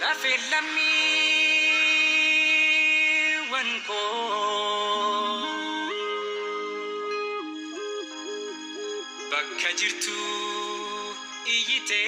Lafe lammiiwwan koo bakka jirtu iyyitee.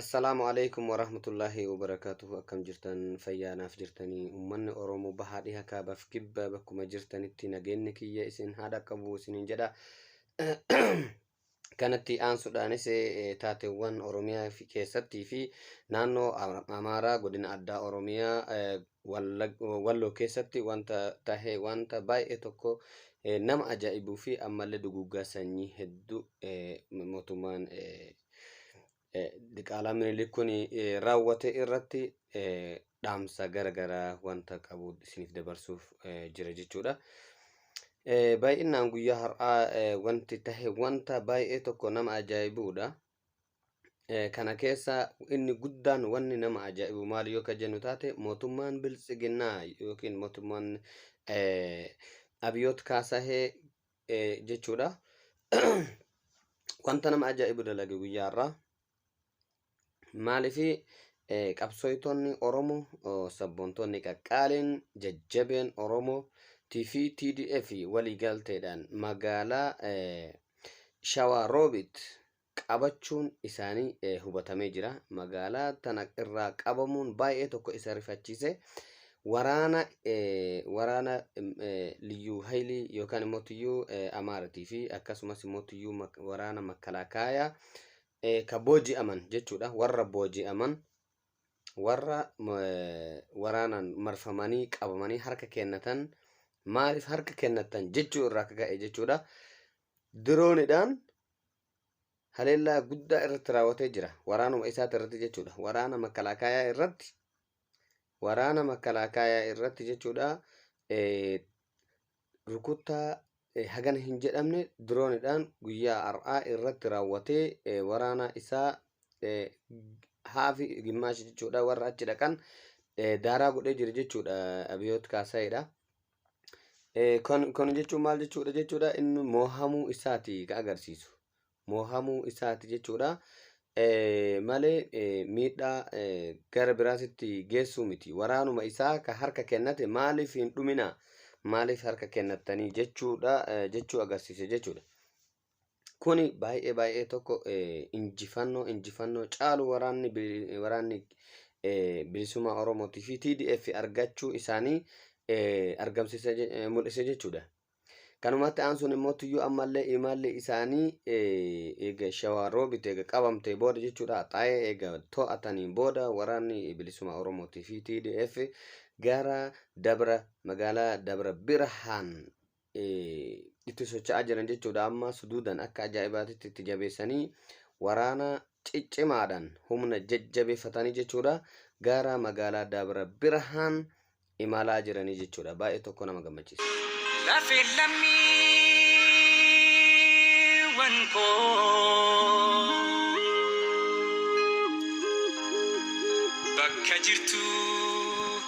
Assalaamu aleykum warahmatullaahi wabarakaatuhu akkam jirtan fayyaa naaf jirtanii ummanni Oromoo bahaa dhiha kaabaf kibba bakkuma jirtanitti nageenni kiyya isin haa dhaqqabu isiniin jedha kanatti aansuudhaanis eh, taateewwan Oromiyaa fi- keessattii fi naannoo Ama- Amaaraa godina addaa Oromiyaa eh, Wallag- Walloo keessatti wanta tahe wanta baay'ee tokko eh, nama ajaa'ibuu fi ammallee duguuggaa sanyii hedduu eh, mootummaan eh, Diqaalaa Minilik kun raawwate irratti dhaamsa gara garaa wanta qabu isiniif dabarsuuf jira jechuudha. Baay'inaan guyyaa har'aa wanti tahe wanta baay'ee tokko nama ajaa'ibuudha. Kana keessa inni guddaan wanni nama ajaa'ibu maal yoo ka jennu taate mootummaan biltsiginnaa yookiin mootummaan abiyoot kaasahee jechuudha. Wanta nama ajaa'ibu dalage guyyaa irraa. Maaliif qabsooyitoonni Oromoo sabboontoonni qaqqaaliin jajjabeen Oromoo fi TDF waliigalteedhaan magaalaa Shawaa Roobit qabachuun isaanii hubatamee jira. Magaalaa tana irraa qabamuun baay'ee tokko isa rifachiise. Waraana waraana liyyuu haylii yookaan immoo tuyyuu amaaratii fi akkasumas immoo tuyyuu waraana makkalaakaayaa ka booji'aman jechuudha. Warra booji'aman warra waraanaan marfamanii qabamanii harka kennatan maaliif harka kennatan jechuu irraa akka ka'e jechuudha. Diroonidhaan haleellaa guddaa irratti raawwatee jira. Waraanuma isaati irratti jechuudha. Waraana makalaakaayaa irratti waraana makalaakaayaa irratti jechuudha. Rukuttaa hagana hin jedhamne diroonidhaan guyyaa har'aa irratti raawwatee waraana isaa haafi gimmaashi jechuudha warra achi dhaqan daaraa godhee jira jechuudha abiyoot kaasaayidha. Eh, kan- Kana jechuun maal jechuudha jechuudha inni moohamuu isaati ka agarsiisu. Moohamuu isaati jechuudha. Eh, Malee eh, miidhaa eh, gara biraasitti geessuu miti. Waraanuma isaa ka harka kennate maaliif hin dhuminaa? Maaliif harka kennattanii jechuudha eh, jechuu agarsiise jechuudha. Kuni baay'ee baay'ee tokko injifannoo injifannoo caalu waraanni waraanni bilisummaa Oromootii fi TDF argachuu isaanii argamsiisa mul'ise jechuudha. Kanumatti aansuun immoo tuyyuu ammallee imalli isaanii eega shawaa roobite eega qabamtee booda jechuudha xaa'ee eega to'atanii booda waraanni bilisummaa Oromootii fi TDF gara dabra magaalaa dabra birhaan itti socho'aa jiran jechuudha. Amma suduudan akka ajaa'ibaatitti itti jabeessanii waraana ciccimaadhaan humna jajjabeeffatanii jechuudha. Gara magaalaa Dabra Birhaan imalaa jiranii jechuudha. Baay'ee tokko nama gammachiisa. Lafeen lammiiwwan koo bakka jirtu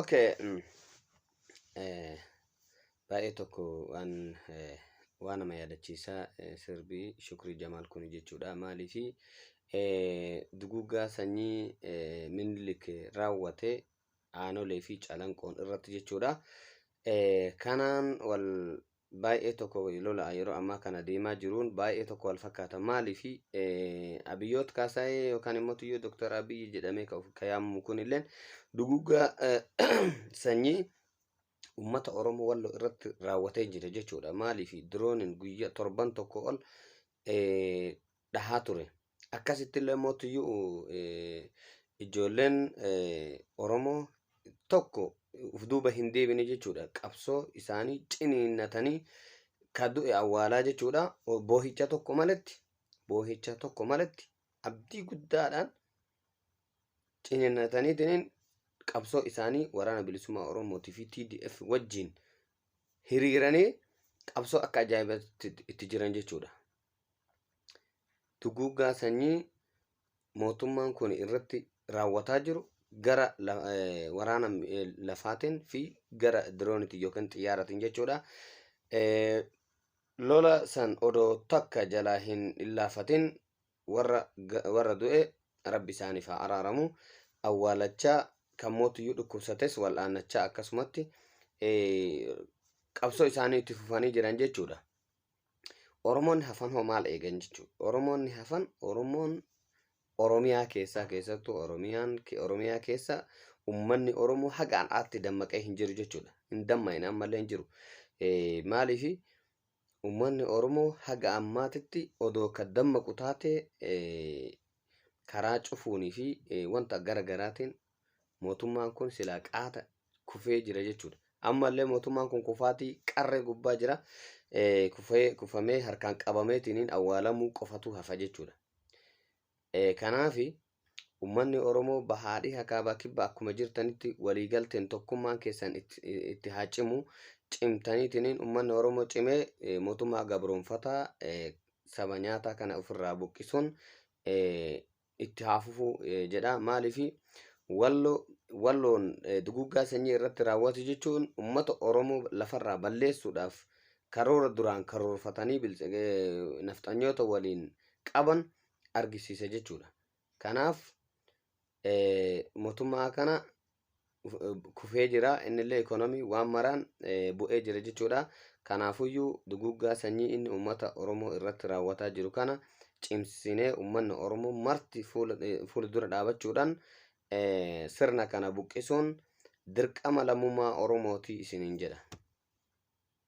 Okay. mm, eh, Baay'ee tokko waan eh, waan nama yaadachiisaa eh, sirbii Shukrii Jamaal kun jechuudha. Maaliifi eh, duguuggaa sanyii eh, Minilik raawwate aanolee fi calanqoon irratti jechuudha. Eh, kanaan wal baay'ee tokko wali lola'a yeroo ammaa kana deemaa jiruun baay'ee tokko wal fakkaata maaliif abiyyoot kaasaayee yookaan immoo tuyyoo doktar abiyyi jedhamee ka of- ka yaamamu kun illeen dugugaa sanyii ummata oromoo walloo irratti raawwatee jira jechuudha maaliif diroonin guyya torban tokko ol eh, dhahaa ture. Akkasitti illee immoo tuyyuu ijoolleen Oromoo tokko uf duuba hin deebine jechuudha. Qabsoo isaanii ciniinnatanii ka du'e awwaalaa jechuudha. Boohicha tokko maletti boohicha tokko maletti abdii guddaadhaan ciniinnataniitiin qabsoo isaanii waraana bilisummaa Oromootii fi TDF wajjin hiriiranii qabsoo akka ajaa'ibaatti itti jiran jechuudha. duguuggaa sanyii mootummaan kun irratti raawwataa jiru gara waraana lafaatiin fi gara diroonitiin yookiin xiyyaaratiin jechuudha. Lola san odoo takka jalaa hin illaafatin warra du'e rabbi isaaniif haa araaramu. Awwaalachaa kan mootiyyuu dhukkubsates wal'aannachaa akkasumatti qabsoo isaanii itti fufanii jiran jechuudha. Oromoonni hafan hoo maal eegan jechuudha? Oromoonni hafan Oromoon Oromiyaa keessaa keessattuu Oromiyaan Oromiyaa keessa ummanni Oromoo haga har'aatti dammaqee hin jiru jechuudha. Hin dammaqne ammallee hin jiru. Maaliif ummanni Oromoo haga ammaatitti odoo ka dammaqu taate karaa cufuunii fi wanta gara garaatiin Mootummaan kun silaa qaata kufee jira jechuudha. Ammallee mootummaan kun kufaatii qarree gubbaa jira. Eh, kufee- Kufamee harkaan qabameetiin awwaalamuu qofatu hafa jechuudha. Eh, Kanaafi ummanni Oromoo bahaa dhiha kaabaa kibba akkuma jirtanitti waliigalteen tokkummaan keessan itti, itti haa cimu. Cimtaniitiin ummanni Oromoo cimee eh, mootummaa gabroonfataa eh, saba nyaataa kana ofirraa buqqisuun eh, itti haa fufu eh, jedha maaliifi wallo walloon eh, duguuggaa sanyii irratti raawwatu jechuun ummata oromoo lafarraa balleessuudhaaf karoora duraan karoorfatanii biltsi- eh, nafxanyoota waliin qaban argisiisa jechuudha kanaaf eh, mootummaa kana kufee jira innillee ikoonomii waan maraan bu'ee jira jechuudha. Kanaafuyyuu duguuggaa sanyii inni uummata Oromoo irratti raawwataa jiru kana cimsinee uummanni Oromoo marti fuula dura dhaabachuudhaan sirna kana buqqisuun dirqama lammummaa Oromooti isiniin jedha.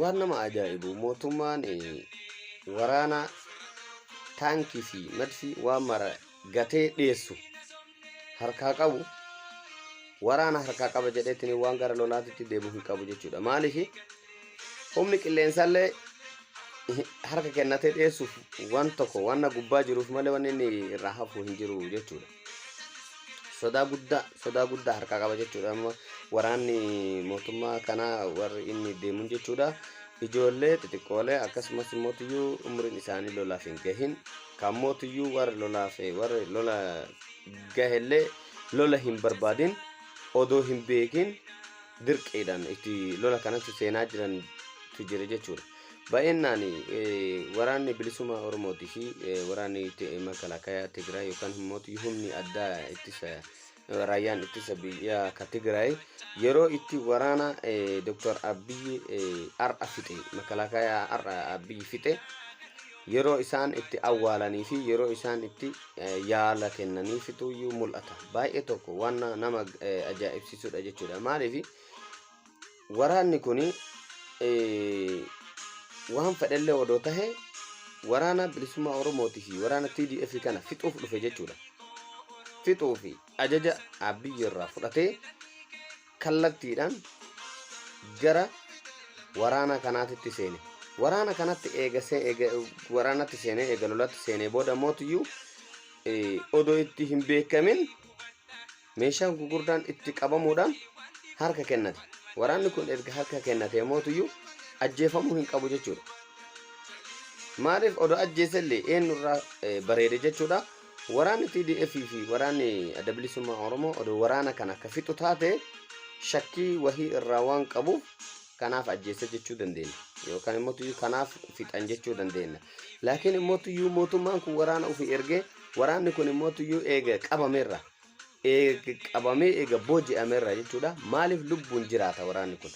Waan nama ajaa'ibu mootummaan waraana taankii fi madfii waan mara gatee dhiyeessu harkaa qabu waraana harkaa qaba jedheetiin waan gara lolaatitti deebi'u hin qabu jechuudha. Maaliif humni qilleensaallee harka kennatee dhiyeessuuf waan tokko waan gubbaa jiruuf malee waan inni irraa hafu hin jiru jechuudha. sodaa guddaa sodaa guddaa harkaa qaba jechuudha amma waraanni mootummaa kanaa warri inni deemuun jechuudha ijoollee xixiqqoolee akkasumas mootiyyuu umriin isaanii lolaaf hin gahin kan mootiyyuu warri lolaaf warri lola gahellee lola hin barbaadin odoo hin beekin dirqiidhaan itti lola kanatti seenaa jirantu jira jechuudha. Baay'inaan waraanni bilisummaa Oromootii fi waraanni makalakayaa Tigraay yookaan immoo humni addaa ittisa raayyaan ittisa biyyaa ka Tigraay yeroo itti waraana Dr. Abiyyi har'a fixe makalakayaa har'a Abiyyi fixe yeroo isaan itti awwaalanii fi yeroo isaan itti yaala kennanii fixuyyuu mul'ata. Baay'ee tokko waan nama ajaa'ibsiisudha jechuudha. Maaliif? Waraanni kun waan fedhellee odoo tahe waraana bilisummaa Oromootii fi waraana TDF kana fixuuf dhufe jechuudha. Fixuu fi ajaja Abiyyi irraa fudhatee kallattiidhaan gara waraana kanaatitti seene. Waraana kanatti eega see- eega- waraanatti seenee eega lolatti seenee booda mootiyyuu eh, odoo itti hin beekamin Meeshaan gugurdaan itti qabamuudhaan harka kennate. Waraanni kun erga harka kennatee mootuyyuu ajjeefamuu hin qabu jechuudha. Maaliif odoo ajjeese illee eenyurraa eh, bareede jechuudha. Waraanni TDF fi waraanni adda bilisummaa Oromoo odoo waraana kana akka fixu taate shakkii wahii irraa waan qabuuf kanaaf ajjeese jechuu dandeenya. Yookaan immoo tuyyuu kanaaf fixan jechuu dandeenya. Laakiin immoo tuyyuu mootummaan kun waraana ofii ergee waraanni kun immoo tuyyuu eega qabameerra. eega qabamee eega booji'ame irraa jechuudha maaliif lubbuun jiraata waraanni kun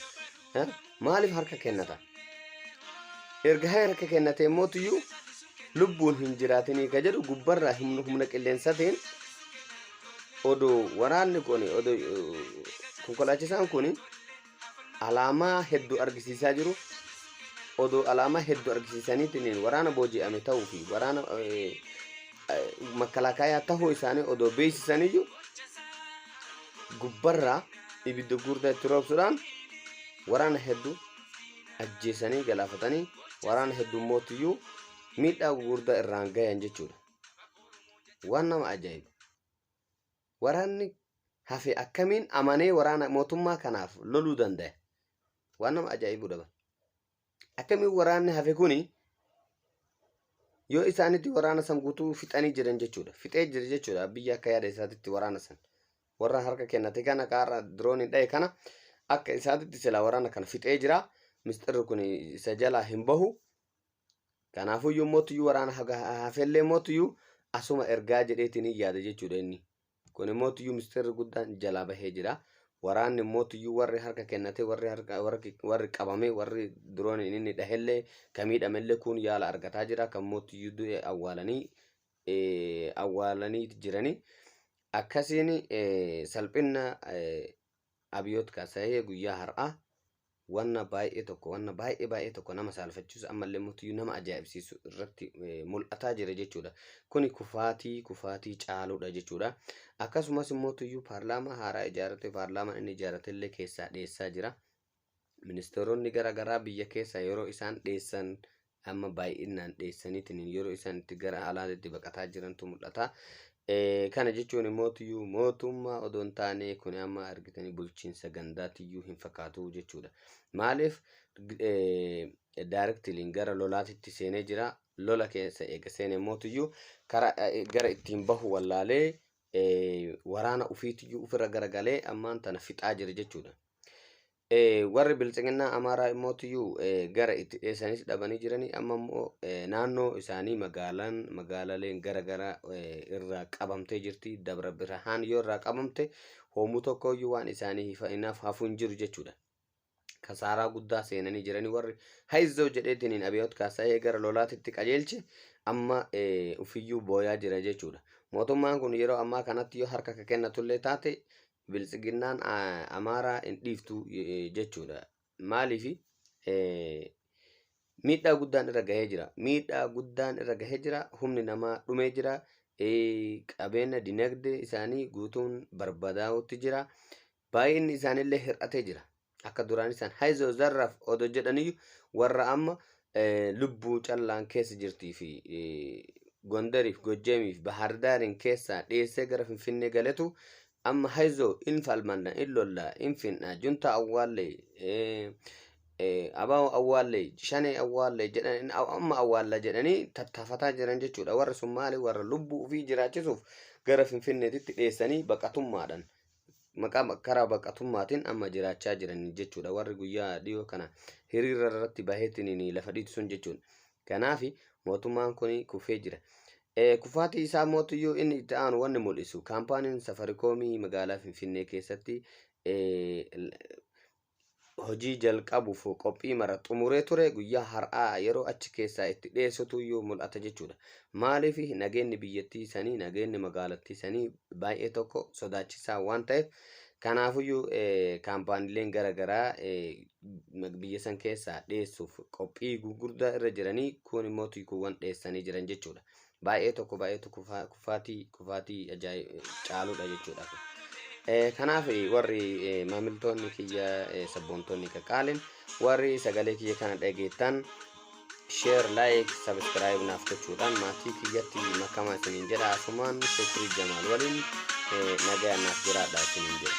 Eh? maaliif harka kennata erga harka kennate immoo lubbuun hin jiraatinii ka jedhu gubbarraa humna humna qilleensatiin odoo waraanni kun odoo eh, konkolaachisaan kun alaamaa heddu argisiisaa jiru. Odoo alaamaa heddu argisiisaniitiin waraana booji'ame ta'uu fi waraana makkalaakaayaa ta'uu isaanii odoo beeksisaniyyuu gubbarraa ibidda guddaa itti roobsuudhaan waraana heddu ajjeesanii galaafatanii waraana heddu mootiyyuu miidhaa guddaa irraan gayan jechuudha. Waan nama ajaa'iba. Waraanni hafe akkamiin amanee waraana mootummaa kanaaf loluu dandaya? Waan nama ajaa'ibudha bar. Akkamiin waraanni hafe kuni yoo isaanitti waraana san guutuu fixanii jiran jechuudha. Fixee jira jechuudha biyya akka yaada isaatitti waraana san. Warra harka kennate kana kaarra dirooniin dhahe kana akka isaatitti silaa waraana kana fixee jira. Misxirri kun isa jalaa hin bahu. Kanaafuu iyyuu mootu iyyuu waraana hafellee mootu iyyuu asuma ergaa jedheetiin hin yaada jechuudha inni. Kun immoo iyyuu mistirri guddaan jalaa bahee jira. Waraanni immoo iyyuu warri harka kennate warri harka warri warri qabame warri diroon inni dhahellee kan miidhamellee kun yaala argataa jira kan mootu iyyuu du'e awwaalanii eh, awwaalanii jiranii akkasiin eh, salphina eh, abiyoot kaasahee guyyaa har'aa wanna baay'ee tokko wanna baay'ee baay'ee tokko nama saalfachiisu ammallee mootiyyuu nama ajaa'ibsiisu irratti eh, mul'ataa jira jechuudha. Kuni kufaatii kufaatii caaluudha jechuudha. Akkasumas mootiyyuu paarlaamaa haaraa ijaarrate paarlaamaan inni ijaarrate illee keessaa dheessaa jira. Ministeeronni garaagaraa biyya keessa yeroo isaan dheessan amma baay'inaan dheessaniitiin yeroo isaan itti gara alaatti itti baqataa jirantu mul'ata. Eh, Kana jechuun immoo tuyyuu mootummaa odoo hin taane kun amma argitanii bulchiinsa gandaa tuyyuu hin fakkaatu jechuudha. Maaliif daarektiliin gara lolaatitti seenee jira. Lola keessa eega seene immoo tuyyuu karaa eh, gara ittiin bahu wallaalee eh, waraana ofiitiyyuu ofirra garagalee ammaan tana fixaa jira jechuudha. Warri biltsiginnaa Amaaraa immoo tuyyuu gara itti dheessanis dhabanii jiranii amma immoo naannoo isaanii magaalaan magaalaleen gara gara irraa qabamtee jirti dabra birhaan yoo irraa qabamte hoomuu tokko iyyuu waan isaanii hifa'inaaf hafuu hin jiru jechuudha. Kasaaraa guddaa seenanii jiranii warri haizoo jedheetiin hin abiyoot kaasa'ee gara lolaatitti qajeelche amma ufiyyuu booyaa jira jechuudha. Mootummaan kun yeroo ammaa kanatti yoo harka ka kennatullee taate Biltsiginnaan Amaaraa hin dhiiftu jechuudha. Maaliif miidhaa guddaan irra gahee jira. Miidhaa guddaan irra gahee jira. Humni namaa dhumee jira. Qabeenya dinagdee isaanii guutuun barbadaa'utti jira. Baay'inni isaaniillee hir'atee jira. Akka duraanii san hayzoo zarraf odo jedhaniyyu warra amma lubbuu callaan keessa jirtii fi Gondariif Gojjamiif Bahardaariin keessaa dheessee gara Finfinnee galetu amma hayzoo in falmanna in lolla in finna juntaa awwaallee abaa'oo awwaallee shanee awwaallee jedhan amma awwaalla jedhanii tattaafataa jiran jechuudha warri sun maali warra lubbuu ofii jiraachisuuf gara Finfinneetitti dheessanii baqatummaadhaan maqaa karaa baqatummaatiin amma jiraachaa jiran jechuudha. Warri guyyaa dhiyoo kana hiriira irratti baheetiin lafa dhiitu sun jechuudha. Kanaaf mootummaan kun kufee jira. Kufaatii isaa mootiyyuu inni itti aanu wanni mul'isu kaampaaniin safarikoomii magaalaa Finfinnee keessatti hojii jalqabuuf qophii mara xumuree ture guyyaa har'aa yeroo achi keessaa itti dheessutu iyyuu mul'ata jechuudha. Maaliif nageenni biyyattii sanii nageenni magaalattii sanii baay'ee tokko sodaachisaa waan ta'eef kanaafuyyuu kaampaaniileen gara garaa biyya san keessaa dheessuuf qophii gurguddaa irra jiranii kun immoo tiikuuwwan dheessanii jiran jechuudha. baay'ee tokko baay'eetu kufaa- kufaatii kufaatii ajaa'ib caaludha jechuudha. Eh, Kanaaf eh, warri eh, maamiltoonni kiyya eh, sabboontoonni qaqqaaliin warri sagalee kiyya kana dhageettan share like subscribe naaf gochuudhaan maatii kiyyatti makamaa isiniin jedha asumaan shukrii jamaal waliin eh, nagaa naaf jiraadha isiniin jedha.